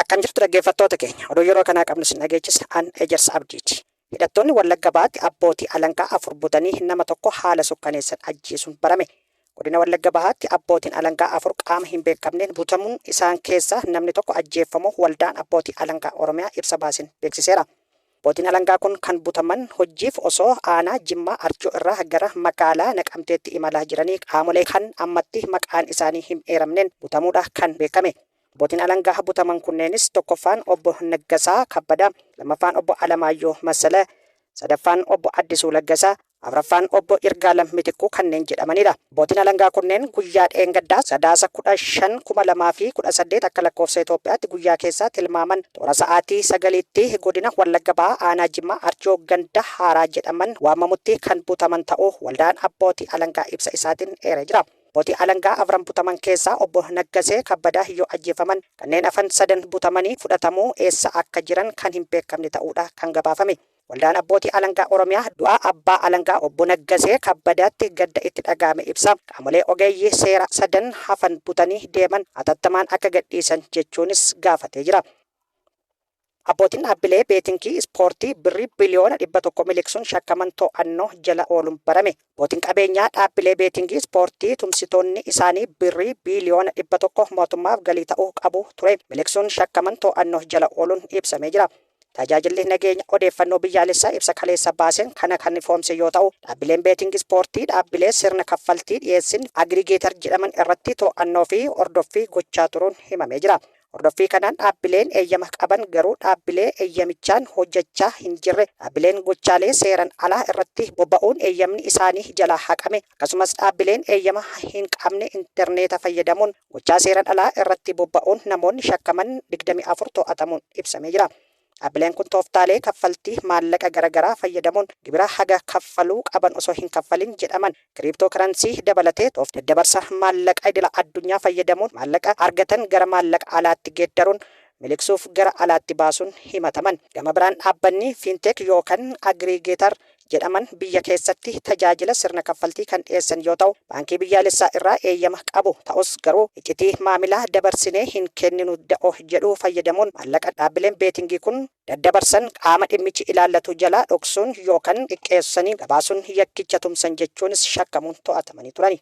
Akkam jirtu dhaggeeffattoota keenya. Oduu yeroo kanaa qabnu isin dhageechisa. An Ejersa Abdiiti. Hidhattoonni Wallagga Bahaatti abbootii alangaa afur butanii nama tokko haala sukkaneessan ajjeesuun barame. Godina Wallagga Bahaatti abbootiin alangaa afur qaama hin beekamneen butamuun isaan keessaa namni tokko ajjeeffamuu Waldaan Abbootii Alangaa Oromiyaa ibsa baaseen beeksiseera. Abbootiin alangaa kun kan butaman hojjiif osoo aanaa Jimmaa Arjoo irraa gara magaalaa Naqamteetti imalaa jiranii qaamolee kan ammatti maqaan isaanii him eeramneen butamuudha kan beekame. Abbootiin alangaa butaman kunneenis tokkoffaan Obbo Naggasaa Kabbadaa, lammaffaan Obbo Alamaayyoo Massala, sadaffaan Obbo Addisuu Laggasaa, Afraffaan Obbo Yirgaalem Mitikkuu kanneen jedhamaniidha. Abbootiin alangaa kunneen guyyaa dheengaddaa Sadaasa 15,2018 akka lakkoofsa Itoophiyaatti guyyaa keessaa tilmaaman toora sa'aatii sagaliitti godina Wallagga Bahaa aanaa Jimmaa Arjoo ganda Haaraa jedhaman waamamutti kan butaman ta'uu waldaan abbootii alangaa ibsa isaatiin eeree jira. Abbootii alangaa afran butaman keessaa Obbo Naggasee Kabbadaa yoo ajjeefaman kanneen hafan sadan butamanii fudhatamuu eessa akka jiran kan hin beekamne ta'uudha kan gabaafame. Waldaan Abbootii Alangaa Oromiyaa du'a Abbaa Alangaa Obbo Naggasee Kabbadaatti gadda itti dhaga'ame ibsa. Qaamolee ogeeyyii seeraa sadan hafan butanii deeman hatattamaan akka gadhiisan jechuunis gaafatee jira. Abbootiin dhaabbilee beetinkii ispoortii birrii biliyoona 100 miliqsuun shakkaman to'annoo jala ooluun barame. Abbootiin qabeenyaa dhaabbilee beetinkii ispoortii tumsitoonni isaanii birrii biliyoona 100 mootummaaf galii ta'uu qabu ture miliqsuun shakkaman to'annoo jala ooluun ibsamee jira. Tajaajilli Nageenya Odeeffannoo Biyyaalessaa ibsa kaleessa baaseen kana kan ifoomse yoo ta'u, dhaabbileen beeting ispoortii dhaabbilee sirna kaffaltii dhiyeessin aggregator jedhaman irratti to'annoo fi hordoffii gochaa turuun himamee jira. Hordoffii kanaan dhaabbileen eeyyama qaban garuu dhaabbilee eeyyamichaan hojjechaa hin jirre, dhaabbileen gochaalee seeran alaa irratti bobba'uun eeyyamni isaanii jalaa haqame, akkasumas dhaabbileen eeyyama hin qabne interneeta fayyadamuun Gochaa seeran alaa irratti bobba'uun namoonni shakkaman 24 to'atamuun ibsamee jira. Dhaabbileen kun tooftaalee kaffaltii maallaqa gara garaa fayyadamuun gibira haga kaffaluu qaban osoo hin kaffalin jedhaman, kiriiptoo karansii dabalatee tooftaa daddabarsa maallaqa idila addunyaa fayyadamuun maallaqa argatan gara maallaqa alaatti geeddaruun miliqsuuf gara alaatti baasuun himataman. Gama biraan dhaabbanni Fintech yookan Agreegeetar jedhaman biyya keessatti tajaajila sirna kaffaltii kan dhiyeessan yoo ta'u, Baankii Biyyaalessaa irraa eeyyama qabu. Ta'us garuu iccitii maamilaa dabarsinee hin kenninu da'o jedhu fayyadamuun maallaqa dhaabbileen beetingii kun daddabarsan qaama dhimmichi ilaallatu jalaa dhoksuun yookan xiqqeessanii gabaasuun yakkicha tumsan jechuunis shakkamuun to'atamanii turani.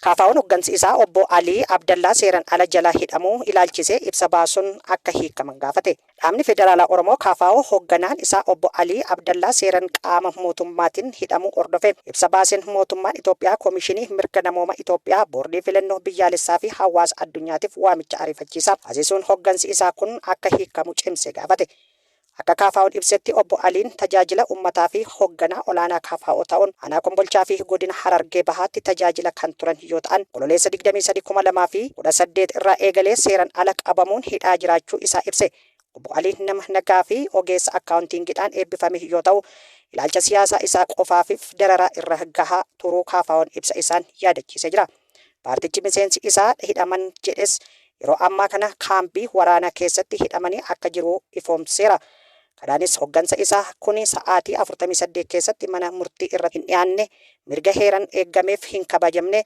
KFO'n hoggansi isaa Obbo Alii Abdallaa seeran ala jala hidhamuu ilaalchisee ibsa baasuun akka hiikkaman gaafate. Dhaabni Federaalaa Oromoo, kfo, hogganaan isaa Obbo Alii Abdallaa seeran qaama mootummaatin hidhamuu hordofee ibsa baaseen mootummaan Itoophiyaa Komishinii Mirga Namooma Itoophiyaa, Boordii Filannoo Biyyaalessaa fi hawaasa addunyaatiif waamicha ariifachiisaa taasisuun hoggansi isaa kun akka hiikkamu cimsee gaafate. Akka KFO'n ibsetti Obbo Aliin tajaajila ummataa fi hogganaa olaanaa KFO ta'uun Aanaa Kombolchaa fi Godina Harargee Bahaatti tajaajila kan turan yoo ta'an, Onkololeessa 23,2018 irraa eegalee seeran ala qabamuun hidhaa jiraachuu isaa ibse. Obbo Aliin nama nagaa fi ogeessa akkaawuntiingiidhaan eebbifame yoo ta'u, ilaalcha siyaasaa isaa qofaafif dararaa irra gahaa turuu KFO'n ibsa isaan yaadachiisee jira. Paartichi miseensi isaa hidhaman jedhes yeroo ammaa kana kaambii waraanaa keessatti hidhamanii akka jiru ifoomseera. Kanaanis hoggansa isaa kuni sa'aatii 48 keessatti mana murtii irratti hin dhiyaanne, mirga heeran eeggameef hin kabajamne,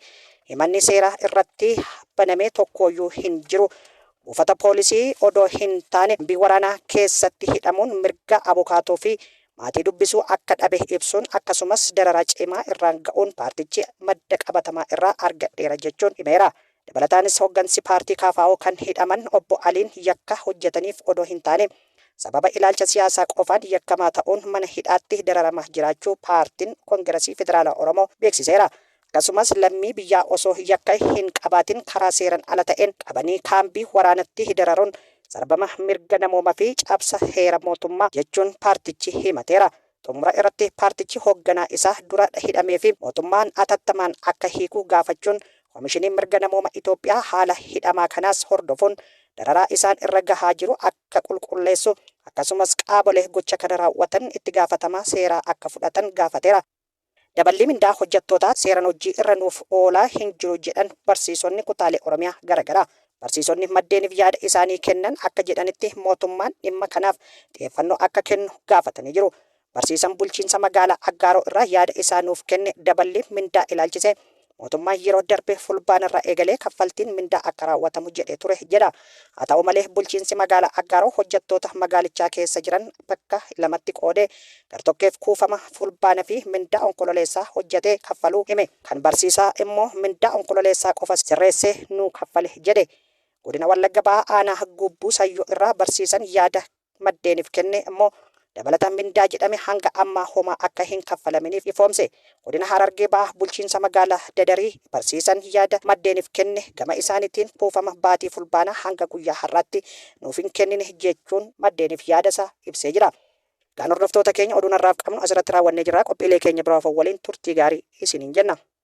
himanni seeraa irratti baname tokkooyyuu hin jiru, buufata poolisii odoo hin taane kaambii waraanaa keessatti hidhamuun mirga abukaatoo fi maatii dubbisuu akka dhabe ibsuun akkasumas dararaa cimaa irraan ga'uun paartichi madda qabatamaa irraa argadheera jechuun himeera. Dabalataanis hoggansi paartii KFO kan hidhaman Obbo Aliin yakka hojjetaniif odoo hin taane sababa ilaalcha siyaasaa qofaan yakkamaa ta'uun mana hidhaatti dararamaa jiraachuu paartiin Kongerasii Federaalaa Oromoo beeksiseera. Akkasumas lammii biyyaa osoo yakka hin qabaatin karaa seeran ala ta'een qabanii kaambii waraanatti dararuun sarbama mirga namooma fi cabsa heera mootummaa jechuun paartichi himateera. Xumura irratti paartichi hoogganaa isaa dura hidhamee fi mootummaan atattamaan akka hiiku gaafachuun Komishiniin Mirga Namooma Itoophiyaa haala hidhamaa kanaas hordofuun dararaa isaan irra gahaa jiru akka qulqulleessu akkasumas qaabole gocha kana raawwatan itti gaafatamaa seeraa akka fudhatan gaafateera. Daballii mindaa hojjattootaa seeran hojjii irra nuuf oolaa hin jiru jedhan barsiisonni kutaalee Oromiyaa gara garaa. Barsiisonni maddeenif yaada isaanii kennan akka jedhanitti mootummaan dhimma kanaaf xiyeeffannoo akka kennu gaafatanii jiru. Barsiisan bulchiinsa magaalaa Aggaaroo irraa yaada isaa nuuf kenne daballii mindaa ilaalchisee Mootummaan yeroo darbe Fulbaanarraa eegalee kaffaltiin mindaa akka raawwatamu jedhee ture jedha. Haa ta'u malee bulchiinsi magaalaa Aggaaroo hojjettoota magaalichaa keessa jiran bakka lamatti qoodee gartokkeef kuufama Fulbaana fi mindaa Onkololeessaa hojjetee kaffaluu hime. Kan barsiisaa immoo mindaa Onkololeessaa qofa sirreessee nuu kaffale jedhe. Godina Wallagga Bahaa aanaa Guubbuu Sayyoo irraa barsiisan yaada maddeeniif kenne immoo dabalata mindaa jedhame hanga ammaa homaa akka hin kaffalaminiif ifoomse. Godina Harargee Bahaa bulchiinsa magaalaa Dadarii barsiisaan yaada maddeeniif kenne gama isaaniitiin kuufama baatii Fulbaanaa hanga guyyaa har'aatti nuuf hin kennine jechuun maddeeniif yaada isaa ibsee jira. Egaan hordoftoota keenya oduun har'aaf qabnu asirratti raawwannee jirra. Qophiilee keenya biroo hafan waliin turtii gaarii isiniin jenna.